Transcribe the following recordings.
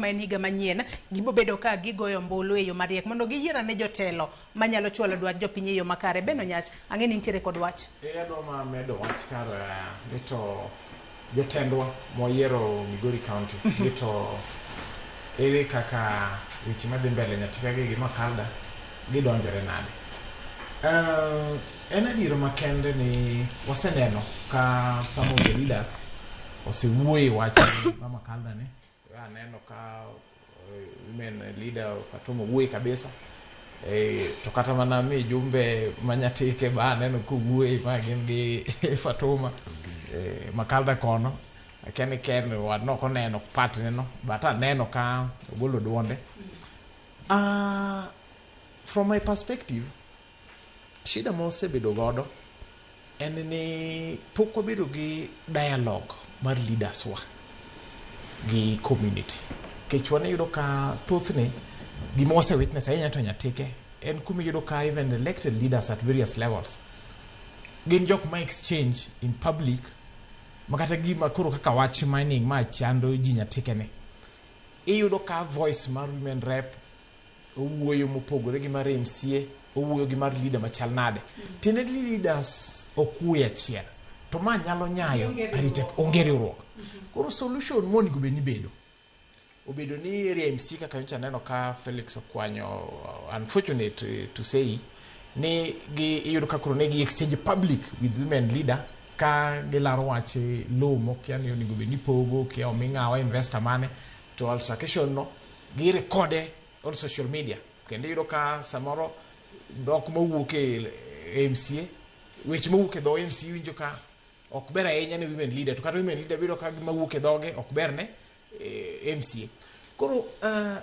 ma en higa manyien, gibo bedo ka gigoyo ombulu e yo mariek mondo giyier ane jotelo manyalo chwalo dwach jopiny e yo makare. Ben Onyach, ang'e ni intiere kod wach. Ee Adoma medo wach kar eh, ni to jotendwa moyiero Migori County ni to ere kaka weche madhi mbele Nyatika gi gi Makalda gidonjore nade. Eh, en adier makende ni waseneno ka some of the leaders osewuoyo e wach ma Makalda ni Aneno ka women leader Fatuma wuoye kabisa eh, to kata mana mi jumbe manyatike ba aneno kowuoye ma gin gi Fatuma eh, makalda kono akia ni ken wadno ok oneno patne no but aneno ka ogolo duonde Ah, from my perspective Shida ma wasebedo godo en ni pok wabedo gi dialogue mar leaders wa gi community. Nikech wan iyudo ka thothne gima wase witness ahinya to nyatike en kuma iyudo ka even elected leaders at various levels gin jok ma exchange in public ma kata gima koro kaka wach mining ma chando ji nyatikeni iyudo ka voice mar women rep owuoyo mopogore gi mar MCA, owuoyo gi mar leader machal nade. Tiende ni leaders ok wuoye achiel. To ma nyalo nyayo Onge riwruok. arita onge riwruok. Koro solution monego bed ni bedo obedo ni area MC kaka nyocha neno ka Felix okwanyo uh, unfortunate uh, to say ni gi iyudo ka koro ne gi exchange public with women leader ka gilaro wach eh, low mokia ni onego bed ni pogo kia omi ng'awa investor mane to altercation no gi recorde on social media kendo iyudo ka samoro dhok mowuok e e MCA weche mowuok e dho MCA iwinjo ka ok ber ahinya ne women leader to kata women leader biro ka gima wuok e dhoge ok ber ne eh, MCA koro ah,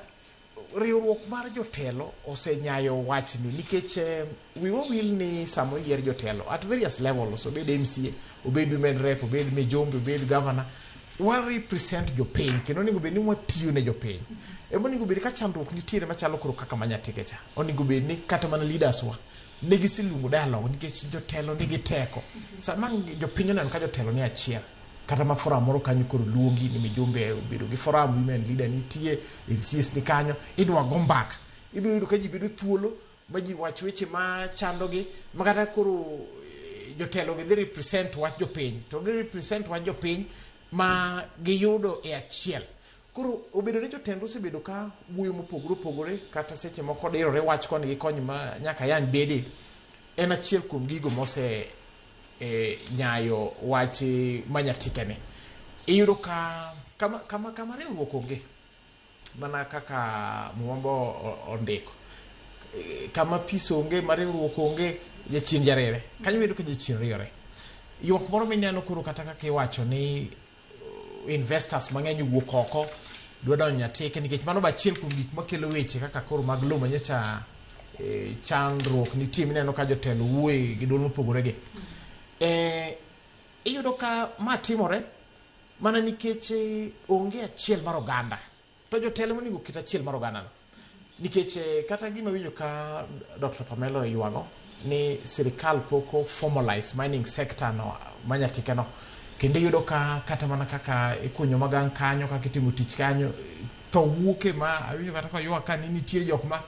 riwruok mar jotelo osenyayo wachni nikech eh, Wiwa wil ni sama oyier jotelo at various levels, obed MCA, obed women rep, obed mijumbe, obed governor, wa represent jopiny kendo onego bed ni watiyo ne jopiny. Ema onego bed ka chandruok nitiere machalo koro kaka manyatike cha. Onego bed ni kata mana leaders wa ne giseluongo dialogue nikech jotelo nigi teko. Sama jopiny oneno ka jotelo ni achiel kata ma forum moro kanyo koro luongi ni mijumbe obedo gi forum women leader nitie MCAs ni kanyo idwa go mbaka. Ibiro yudo ka ji bedo thuolo ma ji wach weche ma chandogi ma kata koro eh, jotelogi dhi represent wach jopiny to gi represent wach jopiny ma giyudo e achiel koro obedo ni jotend osebedo ka wuoyo mopogore opogore kata seche moko dirore wach koni gi kony ma nyaka yang bede en achiel kuom gigo mose eh, nyayo wach eh, manyatikeni iyudo ka kama, kama, kama riwruok onge Mana kaka Muma bo ondiko, kama peace onge, ma riwruok onge, jachien jarere. Kanyo wayudo ka jachien riyore. Ywak moro mineno koro kata kaka iwacho ni uh, investors mang'eny owuok oko dwa donjo Nyatike nikech mano be achiel kuom gik makelo weche kaka koro mag lowo manyocha eh, chandruok nitie mineno ka jotelo wuoye gi duol mopogore gi. Eh, iyudo ka ma timore Mana nikech onge achiel mar oganda. To jotelo monego oket achiel mar oganda no. Nikech eh, kata gima winjo ka Dr. Pamelo yuago ni sirikal poko formalize mining sector no manyatika no. Kendo iyudo ka kata mana kaka ikunyo magang kanyo kaka itimo tich kanyo tho wuoke ma awinjo kata ka yuak ka ni nitie jok ma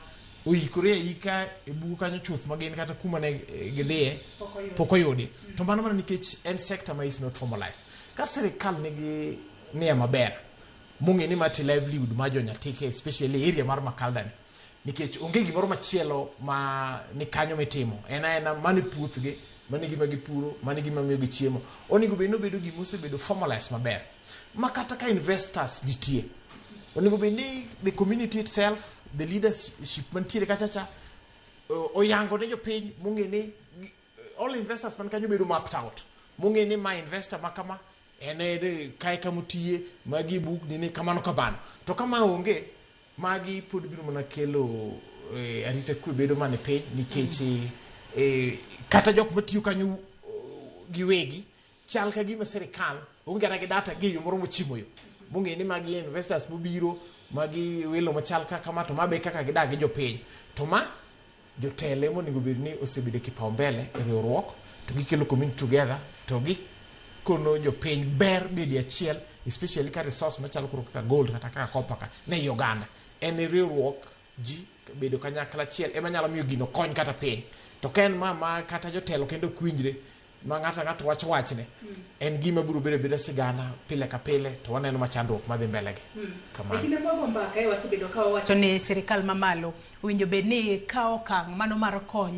oikore aika e bugo kanyo chuth ma gin kata kuma ne eh, gidhiye pok oyudi to mano mana nikech en sector ma is not formalized Ka sirikal nigi nia maber mong'e ni mati livelihood mar jonyatike especially area mar Makalda ni nikech onge gimoro machielo ma ni kanyo mitimo en aena mani puothgi mani gima gipuro mani gima miyo gi chiemo onego bed ni obedo gima osebedo formalized maber ma kata ka investors nitie onego bed ni the community itself the leadership mantiere kachacha oyango ne jopiny mong'e ni all investors man kanyo bedo mapped out mong'e ni ma investor ma kama en en kae kama otiye magi buk nini kamano kamano to kama onge magi pod biro mana kelo eh, arita kwe bedo mana e piny nikech eh, kata jok matiyo kanyo eh, giwegi Chal ka gima sirikal onge kata gi data gi yo moro mochimo yo. Mong'e ni magi investors mobiro, magi welo machal kaka ma to ma be kaka gidak gi jopiny. To ma jotelo ema onego bed ni osebedo e kipaumbele e riwruok to gikelo community together to gi kono jopiny ber bede achiel especially ka resource machalo koro kaka gold kata kaka copper ka ni ei oganda. En riwruok ji bedo kanyakla achiel ema nyalo miyo gino kony kata piny. To ka en ma ma kata jotelo kende ok winjre, ma ng'ato ang'ato wacho wachne en gima biro bedo abeda sigana pile ka pile to waneno ma chandruok madhi mbelegi hmm. kamano e kinde mwago mbaka e wasebedo ka wawacho ni sirikal mamalo owinjo bed ni kawo okang' mano mar konyo